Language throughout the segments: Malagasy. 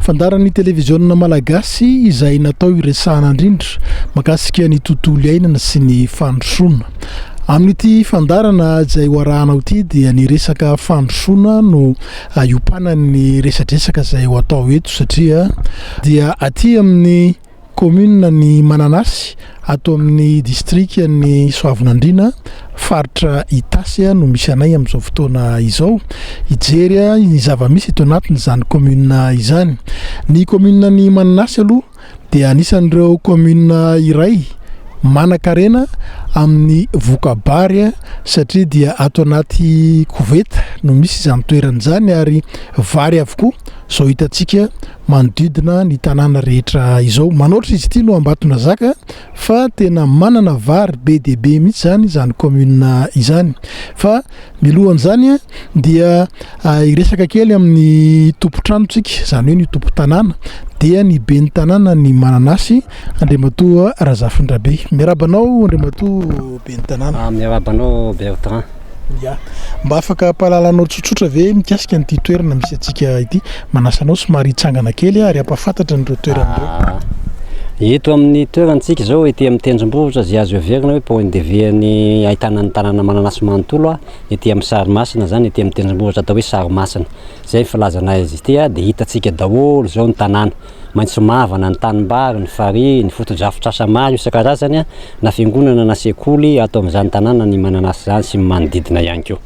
Fandaharan'ny televiziona malagasy izay natao hiresahana indrindra makasika ny tontolo iainana sy ny fandrosoana. Amin'ity fandaharana izay ho arahanao ity dia ny resaka fandrosoana no hiompanan'ny resadresaka izay ho atao eto satria dia aty amin'ny Kaominina ny Mananasy, ato amin'ny distrikan'i Soavinandriana, faritra Itasy no misy anay amin'izao fotoana izao, hijery ny zava-misy eto anatin'izany kaominina izany. Ny kaominina ny Mananasy aloha dia anisan'ireo kaominina iray manan-karena amin'ny voka-bary satria dia ato anaty koveta no misy izany toerana izany ary vary avokoa izao hitantsika manodidina ny tanàna rehetra izao. Manaotra izy ity no Ambatonazaka fa tena manana vary be dia be mihitsy izany izany commune izany. Fa milohan'izany dia ah, hiresaka kely amin'ny tompon-tranontsika, izany hoe ny tompon-tanàna dia ny ben'ny tanàna ny mananasy Andriamatoa Razafindrabe. Miaraba anao Andriamatoa ben'ny tanàna. Ah, miaraba anao Bertrand. Ya. Mba afaka ampahalalanao tsotsotra ve mikasika an'ity toerana misy antsika ity? Manasa anao somary hitsangana kely aho ary hampahafantatra an'ireo toerana ireo. Ah. Eto amin'ny toerantsika izao ety amin'ny tendrombohitra izay azo heverina hoe point de vue an'ny ahitana an'ny tanàna mananasy manontolo a, ety amin'ny sarimasina izany, ety amin'ny tendrombohitra atao hoe sarimasina, izay ny filazana azy ity a, dia hitantsika daholo izao ny tanàna. maitso mavana, ny tanimbary, ny farihy, ny fotodrafitrasa maro isan-karazany na fiangonana na sekoly ato amin'izany tanàna ny mananasy izany sy ny manodidina ihany koa.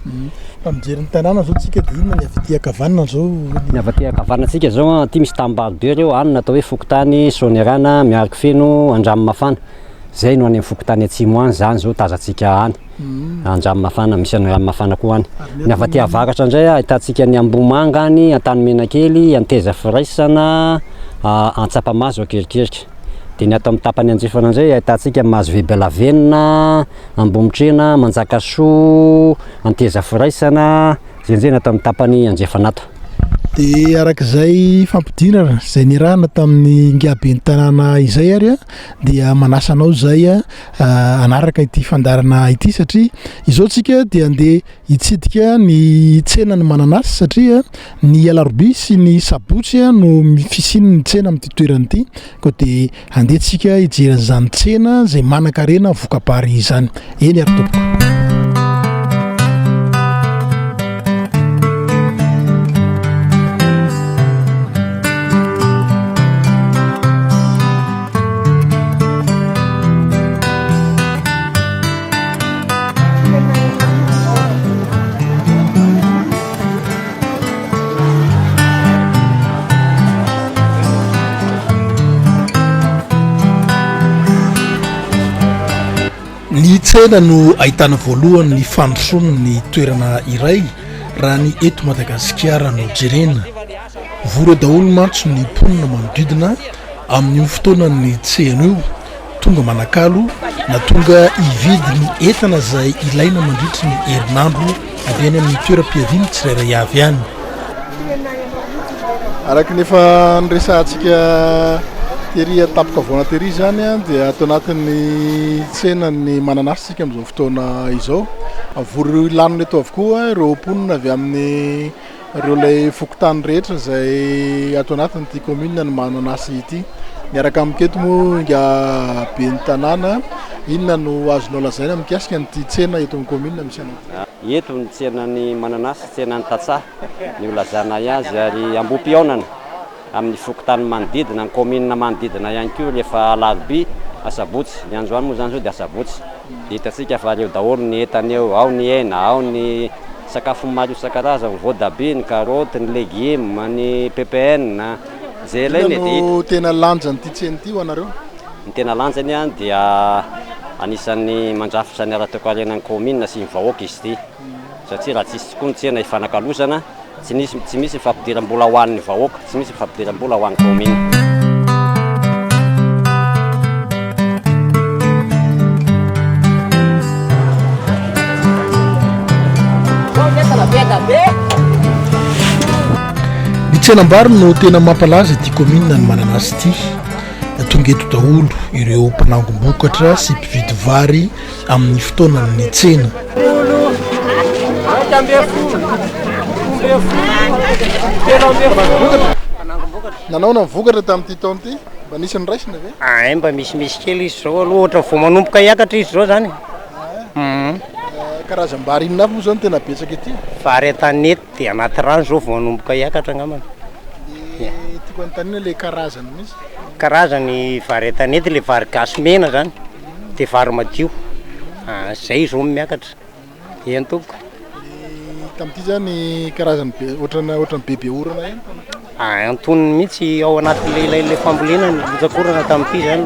Raha mijery ny tanàna izao tsika dia inona ny avy aty ankavanana izao? Ny avy aty ankavanana tsika izao an, aty misy tanimbary be ireo, any no atao hoe fokontany Soanierana, Miarikofeno, Andramimafana, izay no any amin'ny fokontany atsimo any, izany izao tazantsika any. Andranomafana, misy an'i Ranomafana koa any. Ny avy aty avaratra indray ahitantsika an'i Ambohimanga any, Antanimenakely, Anteza Firaisana, Antsapamahazo, Ankerikerika. Dia ny ato amin'ny tapany andrefana indray ahitantsika Mahazovibe Lavenona, Ambomitrena, Manjakasoa, Anteza Firaisana, izay indray ny ato amin'ny tapany andrefana ato. Dia araka izay fampidinana izay niarahana tamin'ny ingaben'ny tanàna izay ary dia manasa anao izay hanaraka ity fandarana ity satria izao tsika dia handeha hitsidika ny tsenan'ny mananasy satria ny alarobia sy ny sabotsy no fisian'ny tsena amin'ity toerana ity koa dia handeha tsika hijery izany tsena izay manan-karena vokabary izany eny ary tompoko ny tsena no ahitana voalohany ny fandrosoana ny toerana iray raha ny eto madagasikara no jerena Vory daholo mantsy ny mponina manodidina amin'io fotoanan'ny tsena io, tonga manakalo na tonga hividy ny entana izay ilaina mandritry ny herinandro avy any amin'ny toeram-piaviany tsirairay avy any. Araka ny efa niresahantsika tery an-tampon-kavoana tery izany dia ato anatin'ny tsenan'ny mananasy isika amin'izao fotoana izao. Vory lanona eto avokoa ireo mponina avy amin'ny Ireo ilay fokontany rehetra izay ato anatin'ity commune ny Mananasy ity. Miaraka amiko eto moa inga ben'ny tanàna, inona no azonao lazaina mikasika an'ity tsena eto amin'ny commune misy anao? Eto ny tsenan'ny Mananasy, tsenan'ny tantsaha no ilazanay azy ary ambohipihaonana. amin'ny fokontany manodidina, ny kaominina manodidina ihany koa rehefa alarobia, asabotsy, ny androany moa izany izao dia asabotsy dia hitantsika fa eo daholo ny entana eo, ao ny hena, ao ny sakafo maro isan-karazany, voatabia, ny karaoty, ny legioma, ny ppn, jela iny e, dia. Inona no tena lanjan'ity tsena ity ho anareo? Ny tena lanjany dia anisan'ny mandrafitra ny ara-toekarenan'ny kaominina sy ny vahoaka izy ity. satria raha tsy hisy tokoa ny tsena ifanakalozana, tsy nisy, tsy misy ny fampidiram-bola ho an'ny vahoaka, tsy misy ny fampidiram-bola ho an'ny kaominina. Ny tsenam-bary no tena mampalaza ity kaominina ny Mananasy ity. Tonga eto daholo ireo mpanangom-bokatra sy mpividy vary amin'ny fotoanan'ny tsena. Nanaona ny vokatra tamin'ity taona ity? Mba nisy niraisina ve? Ay, mba misimisy kely izy izao aloha, ohatra vao manomboka hiakatra izy izao izany. Karazam-bary inona avy moa izao no tena betsaka ety? Vary an-tanety dia anaty rano izao vao manomboka hiakatra angambany. Dia tiako hanontaniana ilay karazany mihitsy. Karazany vary an-tanety, ilay vary gasy mena izany. de vary madio ah zay izy ro miakatra eny tompoko. Ny tamin'ity zany karazany be ohatrana ohatrany bebe orana ihany tany. Ah antonony mihitsy ao anatin'ilay ilay ilay fambolena ny botsakorana tamin'ity zany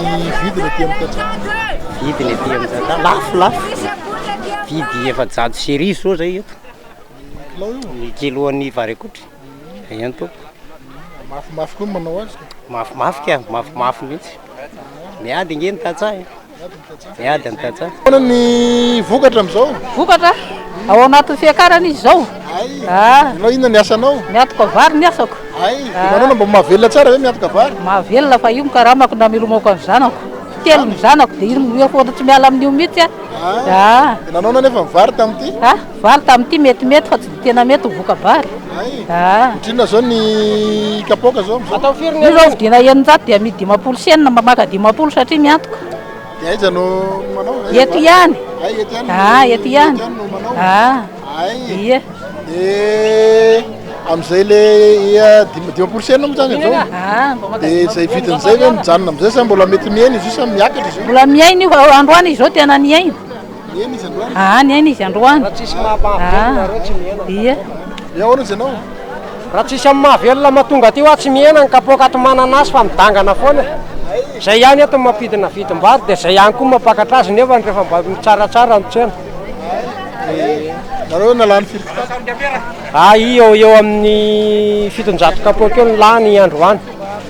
Ny vidiny aty amin'ny tantsaha. vidiny aty amin'ny tantsaha lafo lafo vidy efajato sy arivo zao zay eto Ny kilao io? ny kiloan'ny vary akotry. Aia ny tompoko? Mafimafy koa ny manao azy ka. Mafimafy ka, mafimafy mihitsy. Miady ange ny tantsaha e. Miady ny tantsaha. Ahoana ny vokatra amin'izao? Vokatra? Ao anatin'ny fiakarana izy izao. Hay. Ah. Ianao inona ny asanao? Miatoka vary ny asako. Hay. Dia manao na mba mahavelona tsara ve miatoka vary? Mahavelona fa io ny karamako na milomako amin'ny zanako. Telo ny zanako dia io no mihoatra tsy miala amin'io mihitsy aho. Ah. Ah. Dia nanao na nefa ny vary tamin'ity? Ah. Vary tamin'ity metimety fa tsy dia tena mety ho voka-bary. Hay! Otrina zao ny kapoaka zao amzao? Io zao vidiana eninjato dia amidy dimampolo sy enina mba maka dimampolo satria miantoka. Dia aiza no manao? Eto ihany. Hay eto ihany. Ah, eto ihany. Eto ihany no manao. Ah. Hay. Ie. Dia amzay le ia dim- dimampolo sy enina moa zany amzao? Ah, mba maka Dia izay dimampolo vidiny enina zay ve mafy ihany. mijanona amzay sa mbola mety mihaina izy io sa miakatra izy io? Mbola miaina io fa androany izy zao tena niaina. Aa niaina izy androany. Raha tsisy maha mahavelona nareo tsy mihena ny kapoaka. Dia ahoana izy ianao? Raha tsisy amin'ny mahavelona mahatonga aty ho ahy tsy mihena ny kapoaka ato mananasy fa midangana foana e. Izay ihany eto no mampidina vidim-bary dia izay ihany koa no mampakatra azy nefa ny rehefa mba mitsaratsara ny tsena. Nareo nalany firy kitapo? Aa eo ho eo amin'ny fitonjato kapoaka eo no lany androany.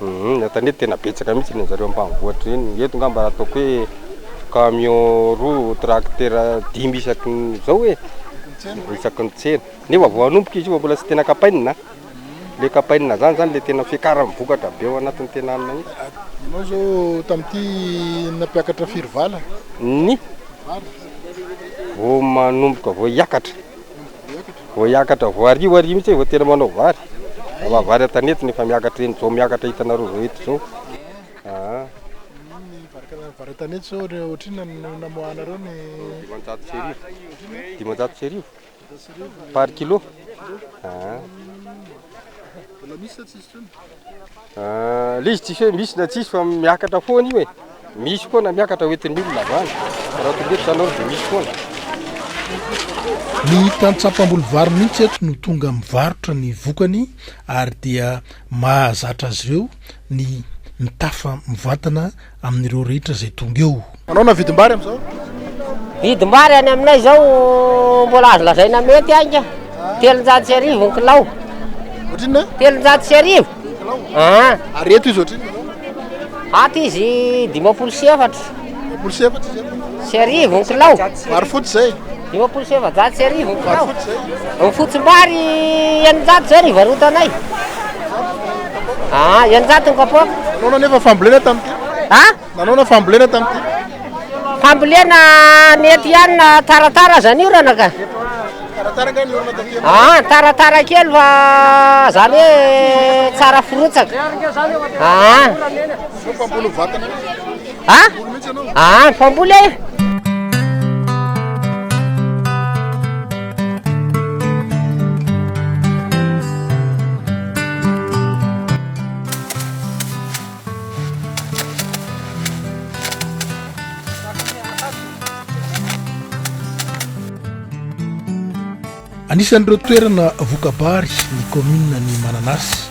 Humm eto anio tena betsaka mihitsy ny anjareo ampanivohitra eny, eto ngamba ataoko hoe camion roa tracteur dimy isaky ny zao e, isaky ny tsena, nefa vao hanomboka izy io fa mbola tsy tena kapainina an, le kapainina zany zany le tena fiakarany vokatra be ao anatiny tena any mihitsy. Ianao zao tamty nampiakatra firy vala? Ny? Vary? Vao manomboka vao hiakatra. Vao hiakatra, vao hariva hariva mihitsy vao tena manao vary. Raha maha vary an-tanety no efa miakatra eny, izao miakatra hitanareo izao eto izao. Aa. Vary an-tanety izao ohatrinona no namoahanareo ny. Dimanjato sy arivo. Dimanjato sy arivo. Par kilo. Aa. Mbola misy sa tsisy intsony? Ah, le izy tsisy hoe misy na tsisy fa miakatra foana io e. Misy foana miakatra ho entin'ny olona avy any. Raha tonga eto zany dia misy foana. Ny tantsam-pamboly vary mihitsy eto no tonga mivarotra ny vokany ary dia mahazatra azy ireo ny mitafa mivantana amin'ireo rehetra izay tonga eo. Manao na vidim-bary amin'izao? Vidim-bary any aminay izao mbola azo lazaina mety ainga, telonjato sy arivo ny kilao. Ohatrinona? Telonjato sy arivo. Ah. Ary eto izy ohatrinona? Ato izy dimampolo sy efatra. Dimampolo sy efatra izy eto. Sy arivo ny kilao. Vary fotsy izay. Dimampolo sy efajato sy arivo ny kiraony. Ny fotsimbary eninjato izao ny varotanay. Ah, eninjato ny kapoaka. Nanao nefa fambolena tamin'ity? Ha? Nanao na fambolena tamin'ity? Fambolena mety ihany na taratara aza ny orana ka. Taratara nga ny orana tamin'ity? Ah, taratara kely fa zany hoe tsara firotsaka. Ah. Mpamboly vatana. Ha? Ah, mpamboly eh! Anisan'ireo toerana voka-bary ny kaominina ny Mananasy.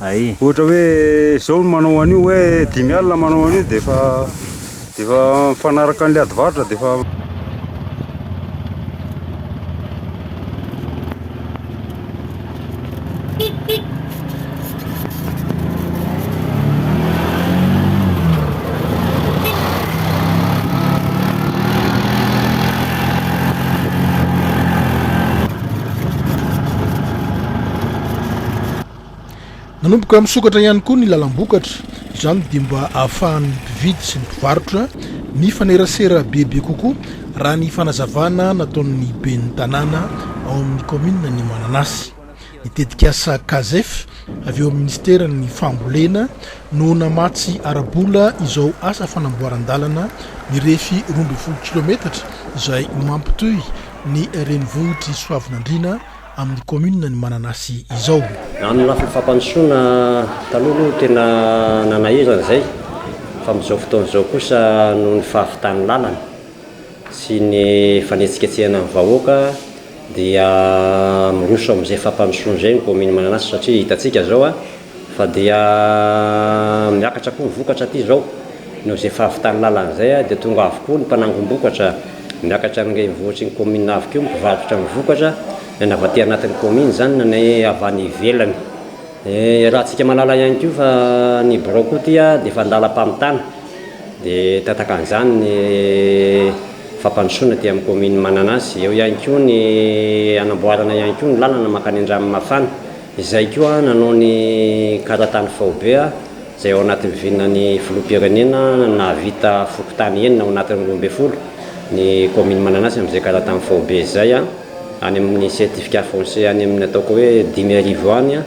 Ay. Ohatra hoe zao ny manao an'io hoe dimy alina manao an'io dia efa dia efa mifanaraka an'ilay adivarotra dia efa Nanomboka misokatra ihany koa ny lalam-bokatra, izany dia mba ahafahan'ny mpividy sy ny mpivarotra mifanerasera bebe kokoa, raha ny fanazavana nataon'ny ben'ny tanàna ao amin'ny kaominin'i Mananasy. Ny tetikasa Casef avy eo amin'ny minisiteran'ny Fambolena no namatsy ara-bola izao asa fanamboaran-dalana mirefy roa ambin'ny folo kilaometatra izay mampitohy ny renivohitr'i Soavinandriana amin'ny kaominina ny mananasy izao. Raha amin'ny lafiny fampandrosoana, taloha aloha no tena nanahirana izay fa amin'izao fotoana izao kosa noho ny fahavitan'ny lalana sy ny fanetsiketsehana ny vahoaka dia miroso amin'izay fampandrosoana izay ny kaominina Mananasy satria hitantsika izao Fa dia miakatra koa ny vokatra aty izao. Noho izay fahavitan'ny lalana izay dia tonga avokoa ny mpanangom-bokatra miakatra amin'ny renivohitry ny kaominina avy koa mpivarotra ny vokatra na ny avy aty anatin'ny kaominina izany na ny avy any ivelany. Iarahantsika mahalala ihany koa fa ny birao koa aty dia efa an-dalam-pamitana dia tantakan' izany ny fampandrosoana aty amin'ny kaominina Mananasy. Eo ihany koa ny hanamboarana ihany koa ny lalana mankany Andranomafana. Izay koa nanao ny karatany faobe izay ao anatin'ny vinan'ny filoham-pirenena nahavita fokontany enina ao anatin'ny roa ambin'ny folo ny kaomin'i Mananasy amin'izay karatany faobe izay any amin'ny certificat foncier any amin'ny ataoko hoe dimy arivo any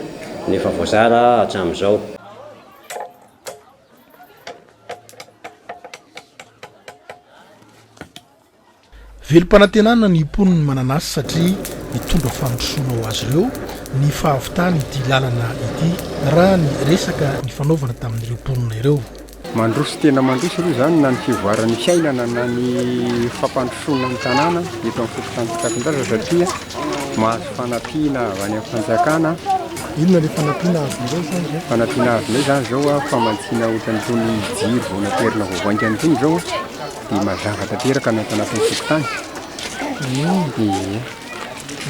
no efa voazara hatramin'izao. Velom-panantenana ny mponin'ny mananasy satria mitondra fandrosoana ho azy ireo ny fahavitany ity lalana ity raha ny resaka nifanaovana tamin'ireo mponina ireo. Mandroso tena mandroso aloha izany na ny fivoaran'ny fiainana na ny fampandrosoana ny tanàna eto amin'ny fokontany Mpitapindraza satria mahazo fanampiana avy any amin'ny fanjakana. Inona ilay fanampiana azonareo izany izao? Fanampiana azonay izany izao famatsiana ohatran'itony jiro vao naterina vao vaingana itony izao. Dia mazava tanteraka ny ato anatin'ny fokontany. Ie.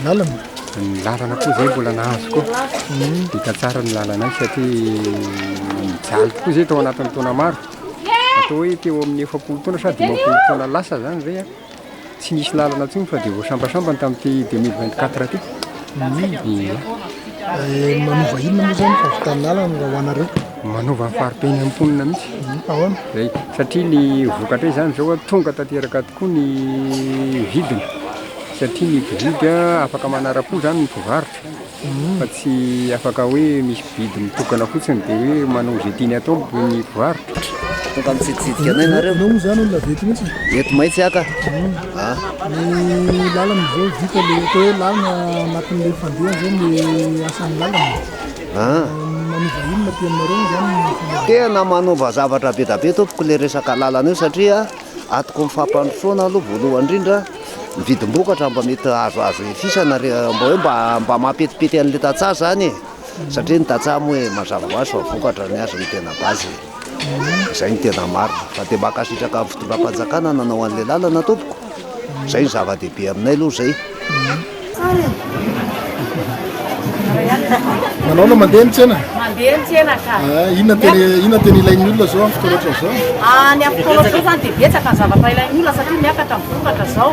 Lalana? Ny lalana koa izay mbola nahazo ko. Vita tsara ny lalanay satria nijaly tokoa izay tao anatin'ny taona maro. Atao hoe teo amin'ny efapolo taona sa dimampolo taona lasa izany izay an. Tsy nisy lalana intsony fa dia voasambasambany tamin'ity deux mille vingt quatre ity. Ie. Eh, manova inona moa zany fahavitan'ala raha ho anareo? Manova ny fari-piainan'ny mponina mihitsy. Mhm, ahoana? Zay, satria ny vokatra izany zao tonga tanteraka tokoa ny vidiny. Satria ny mpividy afaka manara-po zany ny mpivarotra mhm. fa tsy afaka hoe misy vidy mitokana fotsiny dia hoe manao izay tiany atao ny mpivarotra. Tonga mitsiditsidika anay nareo. Anao moa zany olona avy eto mihitsy. Eto mahitsy aka. Ah. Ny lalana izao vita le atao hoe lalana anatin'ilay fandeha zao ny asan'ny lalana. Ah. Manova inona aty aminareo moa zany ny fomba? Tena manova zavatra be da be tompoko le resaka lalana io satria atoko ny fampandrosoana aloha voalohany indrindra ny vidim-bokatra mba mety azoazo efisana re mba hoe mba mba mampetipety an'ilay tantsaha zany e. satria ny tantsaha moa e mazava ho azy fa vokatra ny azy no tena base e, izay no tena marina, fa dia mankasitraka ny fitondram-panjakana nanao an'ilay lalana tompoko, izay no zava-dehibe aminay aloha izay. Manao aloha mandeha ny tsena. Mandeha ny tsena ka. Eh, inona tena inona tena ilain'ny olona zao amin'ny fotoana ohatran'izao? Ah, ny amin'ny fotoana ohatran'izao zany dia betsaka ny zavatra ilain'ny olona satria miakatra ny vokatra zao.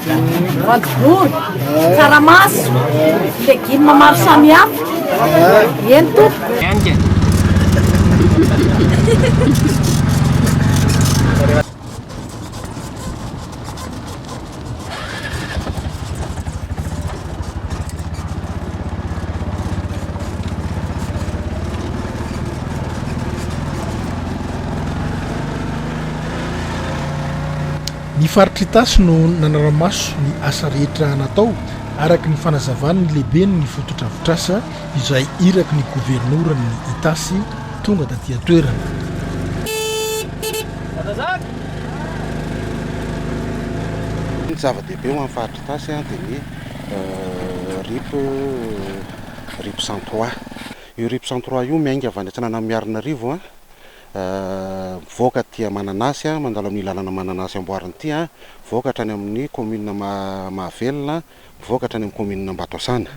Voanjobory, tsaramaso, legumes maro samihafa. Eny tompoko. Ny faritr'Itasy no nanara-maso ny asa rehetra natao, araka ny fanazavan'ny lehiben'ny fotodrafitrasa izay iraky ny governoran'ny Itasy tonga taty an-toerana. Ny zava-dehibe ho an'ny faritr'Itasy dia ny rip rip cent trois. Io rip cent trois io miainga avy any Antsinananimiarinarivo. Mivoaka aty Mananasy an, mandalo amin'ity lalana Mananasy amboarina ity an, mivoaka hatrany amin'ny kaominina Mahavelona, mivoaka hatrany amin'ny kaominina Ambatosana.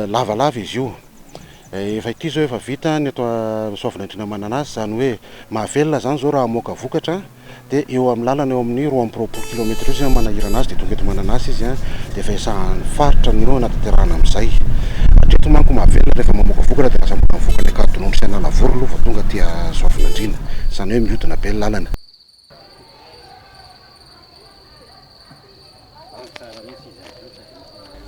Lavalava izy io. Efa ity izao efa vita ny eto Soavinandriana Mananasy, izany hoe Mahavelona izany izao raha hamoaka vokatra, Dia eo amin'ny lalana eo amin'ny roa amby roapolo kilaometatra eo izay no manahirana azy dia tonga eto Mananasy izy dia efa esahan'ny faritra ny hanatanterahana amin'izay. Hatreto manko mahavelona rehefa mamoaka vokatra dia lasa mbola mivoaka any Ankadinondry sy Analavory aloha vao tonga aty Soavinandriana. Izany hoe mihodina be ny lalana.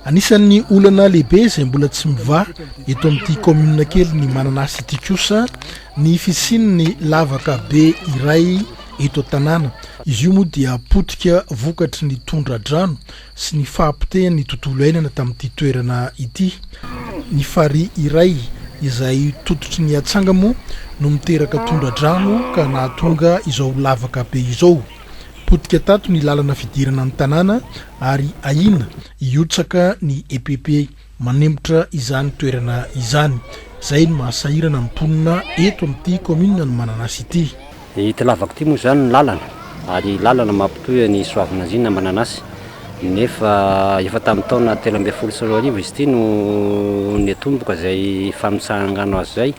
Anisan'ny olana lehibe izay mbola tsy mivaha eto amin'ity kaominina kely ny mananasy ity kosa ny fisian'ny lavaka be iray eto an-tanàna. Izy io moa dia potika vokatry ny tondra-drano sy ny fahapotehan'ny tontolo iainana tamin'ity toerana ity. Ny farihy iray izay tototry ny atsanga moa no miteraka tondra-drano ka nahatonga izao lavaka be izao. Potika tato ny lalana fidirana ny tanàna ary ahiana hihotsaka ny EPP manemitra izany toerana izany, izay no maha sahirana ny mponina eto amin'ity kaominina ny Mananasy ity. Ity lavaka ity moa izany ny lalana ary lalana mampitohy an'i Soavinandriana amin'i Mananasy nefa efa tamin'ny taona telo ambin'ny folo sy roa arivo izy ity no niatomboka izay famitsaha-ngano azy izay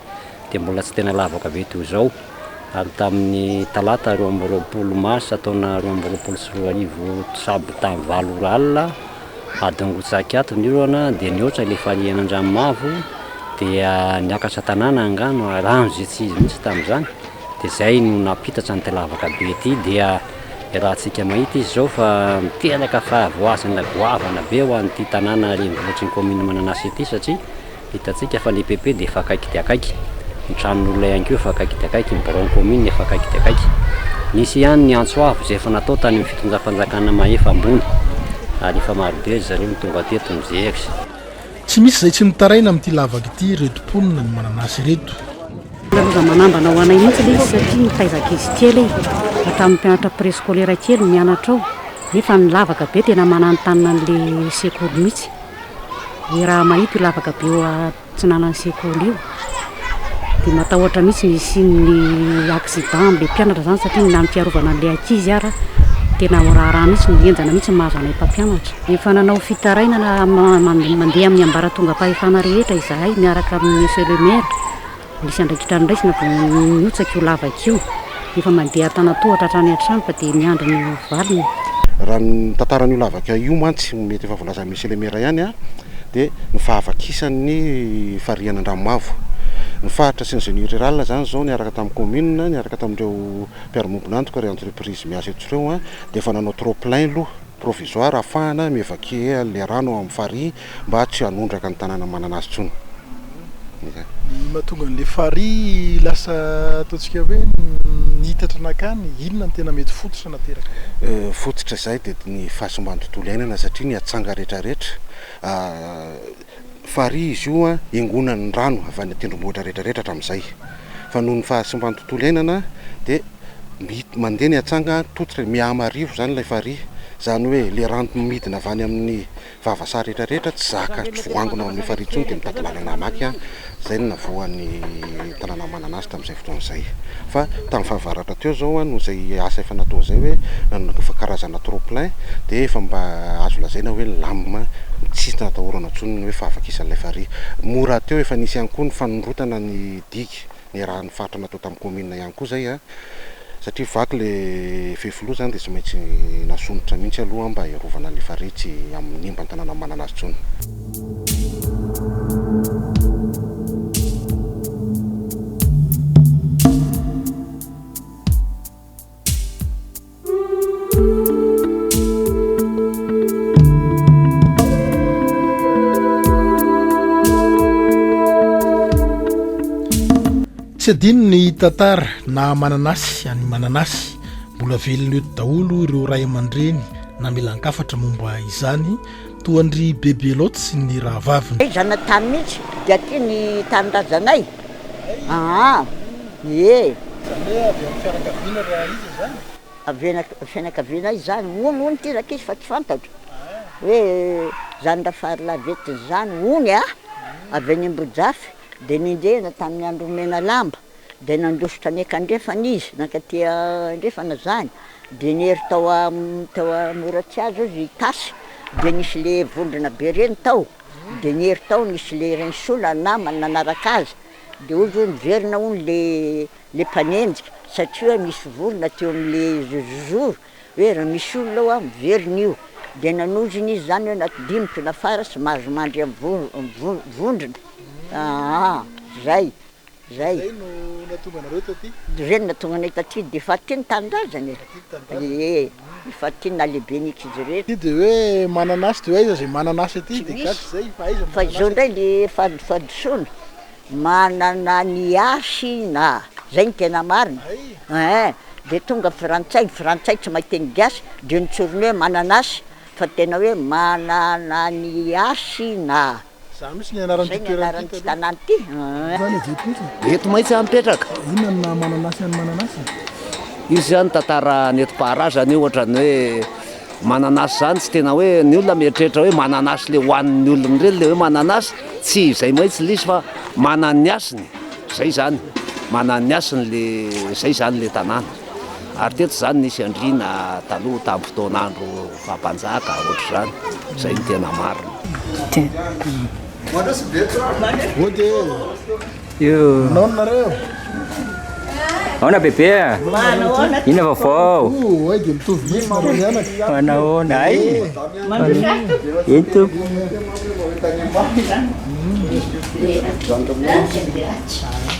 dia mbola tsy tena lavaka be toy izao. ary tamin'ny talata roa amby roapolo marsa taona roa amby roapolo sy roa arivo tsabo tamin'ny valo ora alina adin'ny roa tsaky ato ny orana dia nihoatra ilay farihy an'Andranomavo dia niakatra tanàna angano ary rano izay tsy izy mihitsy tamin'izany dia izay no nampitatra an'ity lavaka be ity dia iarahantsika mahita izy izao fa miteraka fahavoazana goavana be ho an'ity tanàna renivohitr'i ny kaominina Mananasy ity satria Hitantsika fa ny PP dia efa akaiky dia akaiky, ny tranon'olona ihany koa efa akaiky dia akaiky, ny biraon'ny kaominina efa akaiky dia akaiky. Nisy ihany ny antso avo izay efa natao tany amin'ny fitondram-panjakana Mahefa Ambony ary efa marobe ry zareo no tonga teto MJX. Tsy misy izay tsy mitaraina amin'ity lavaka ity ireto mponina ny mananasy ireto. Loza manambana ho anay mihitsy ilay izy satria nitaiza ankizy kely ahy hatramin'ny mpianatra prescolaire kely mianatra ao nefa ny lavaka be tena mananontanona an'ilay sekoly mihitsy. Dia raha mahita io lavaka be eo atsinanan'ny sekoly io dia matahotra mihitsy ny hisian'ny accident amin'ilay mpianatra izany satria ny amin'ny fiarovana an'ilay ankizy ary tena ho raharaha mihitsy, henjana mihitsy ny mahazo anay mpampianatra. Efa nanao fitarainana mandeha amin'ny ambaratongam-pahefana rehetra izahay miaraka amin'ny monsieur le maire. Nisy andraikitra noraisina vao nihotsaka io lavaka io. Efa mandeha an-tanan-tohatra hatrany an-trano fa dia miandry ny ho valiny. Raha ny tantaran'io lavaka io mantsy, mety efa voalazan'i Monsieur le Maire ihany, dia ny fahavakisan'ny farihan' Andranomavo. Ny faritra sy ny Génie rural izany izao niaraka tamin'ny commune, niaraka tamin'ireo mpiara-miombon'antoka, ireo entreprises miasa eto ireo dia efa nanao trop-plein loha provisoire ahafahana mi-évacuer an'ilay rano ao amin'ny farihy Mba tsy hanondraka ny tanàna manana azy intsony. Izay. Ny mahatonga an'ilay farihy lasa ataontsika hoe nihitatra nankany, inona no tena mety fototra nateraka izay? Fototra izay dia ny fahasimban'ny tontolo iainana satria ny atsanga rehetrarehetra, farihy izy io an, iangonan'ny rano avy any an-tendrombohitra rehetrarehetra hatramin'izay. Fa noho ny fahasimban'ny tontolo iainana dia mi- mandeha ny atsanga, tototra, mihamarivo izany ilay farihy. Izany hoe ilay rano midina avy any amin'ny Vava saha rehetra rehetra tsy zaka tsy voangona ao amin'io farihy intsony dia mitady lalana hamaky an, izay no navoan'ny tanàna manana azy tamin'izay fotoana izay. Fa tamin'ny fahavaratra teo izao an, noho izay asa efa natao izay hoe nanondrana efa karazana trop plein dia efa mba azo lazaina hoe nilamina tsy natahorana intsony ny hoe fahavakisan'ilay farihy. Moa rahateo efa nisy ihany koa ny fanondrotana ny digue niarahan'ny faritra natao tamin'ny kaominina ihany koa izay an, Satria vaky ilay fefiloha izany dia tsy maintsy nasomotra mihitsy aloha mba hiarovana ny farihy tsy hanimba ny tanàna manana azy intsony. tsy adino ny tantara na mananasy any mananasy mbola velona eto daholo ireo ray aman-dreny na milankafatra momba izany toa ndry bebe loatsy ny raha vaviny zana tany mihitsy dia ty ny tanindrazanay Aa! ee! Izany hoe avy amin'ny fianakaviana ry Rahaija izany? Avy amin'ny fianakaviana izany, hono hono ty rakizy fa tsy fantatro hoe zany Rafarilahy Ventiny zany hono a! avy any Ambojafy de nenjehina tamin'ny andron'i Menalamba de nandositra any an-kandrefana izy, nankaty andrefana zany de niery tao Moratsiazo izy hitasy de nisy le vondrona be reny tao, Dia niery tao nisy le Renisola namany nanaraka azy dia hoy izy hoe miverina hono le le mpanenjika satria nisy vorona teo amle zozoro hoe raha misy olona ao miverina io dia nanozona izy zany hoe na dimiko na fara sy mahazo mandry am vondrona aa zay. Zay. Zay no nahatonga anareo taty? Zay no nahatonga anay taty, de efa aty ny tanindrazany e! Aty ny tanindrazany? Ee, efa aty ny nahalehiben'ny ekizy rehetra. Aty de hoe manana asa de hoe aiza zay manana asa aty? De gasy izay, fa aiza ny manana asa aty? Fa izao ndray le fahadisoana, manana ny asiny a! Zay no tena marina e! Ee, de tonga frantsay, ny frantsay tsy mahay teny gasy de notsoriny hoe manana asa, fa tena hoe manana ny asiny a! Izany mihintsy ny anaran'ity toerana ity taloha. Eto maitsy aho mipetraka. Inona ny naha mananasy an'i mananasy? Io izany tantara nentim-paharazana io ohatran'ny hoe mananasy izany tsy tena hoe ny olona mieritreritra hoe mananasy ilay hohanin'ny olona ireny ilay hoe mananasy, tsy izay maitsy ilay izy fa manan'ny hasiny, izay izany, manan'ny hasiny ilay, izay izany ilay tanàna. Ary teto izany nisy andriana taloha tamin'ny fotoan'andro. Fa mpanjaka ohatr'izany, izay no tena marina. Aona bebe a? Inona vaovao? Manahoana? Hay! Eny tompoko.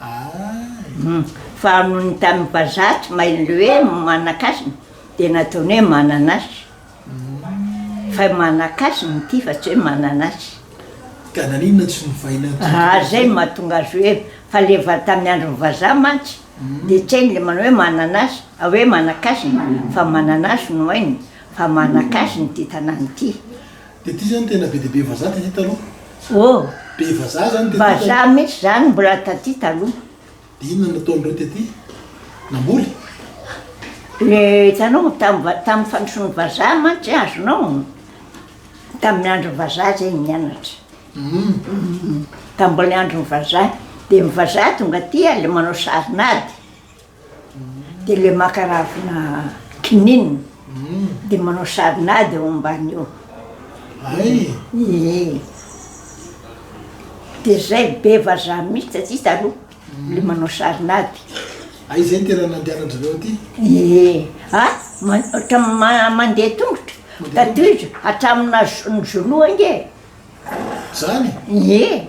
Aay. Hum. Fa noho ny tany mbazaha tsy mahay le hoe manakasina dia nataony hoe mananasy. Fa manakasina ity fa tsy hoe mananasy. Ka naninona tsy novaina tsotra koa izay? Zay no mahatonga azy hoe fa le va tamin'ny andron'ny vazaha mantsy dia tsy hainy le manao hoe mananasy hoe manakasina fa mananasy no hainy fa manakasina ity tanàna ity. De ty zany tena be dia be vazaha taty taloha? Oh! Be vazaha zany tety taloha? Vazaha mihitsy zany mbola taty taloha. De inona no nataon'ireo tety? Namboly? Le hitanao tamin'ny tamin'ny fandrosoan'ny vazaha mantsy azonao, tamin'ny andron'ny vazaha zay nianatra. Umm. Tamin'ny mbola andron'ny vazaha. De ny vazaha tonga aty ary le manao sarin'ady. Dia ilay maka ravina kininina dia manao sarin'ady eo ambany eo. Ee. Dia izay be vazaha mihitsy taty taloha ilay manao sarin'ady. A izay no tena nandehanan-drizareo aty? Ee. A, ohatran'ny mandeha tongotra. Tatoy izy, hatramin'ny naha zo- ny zo-loha ange e. Izany? Ee.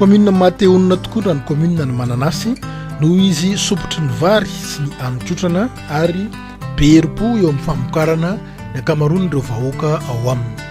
Commune Matehonina tokoa raha ny commune ny Mananasy noho izy sompitry ny vary sy ny haninkotrana ary be herim-po eo amin'ny famokarana ny ankamaroan'ireo vahoaka ao aminy.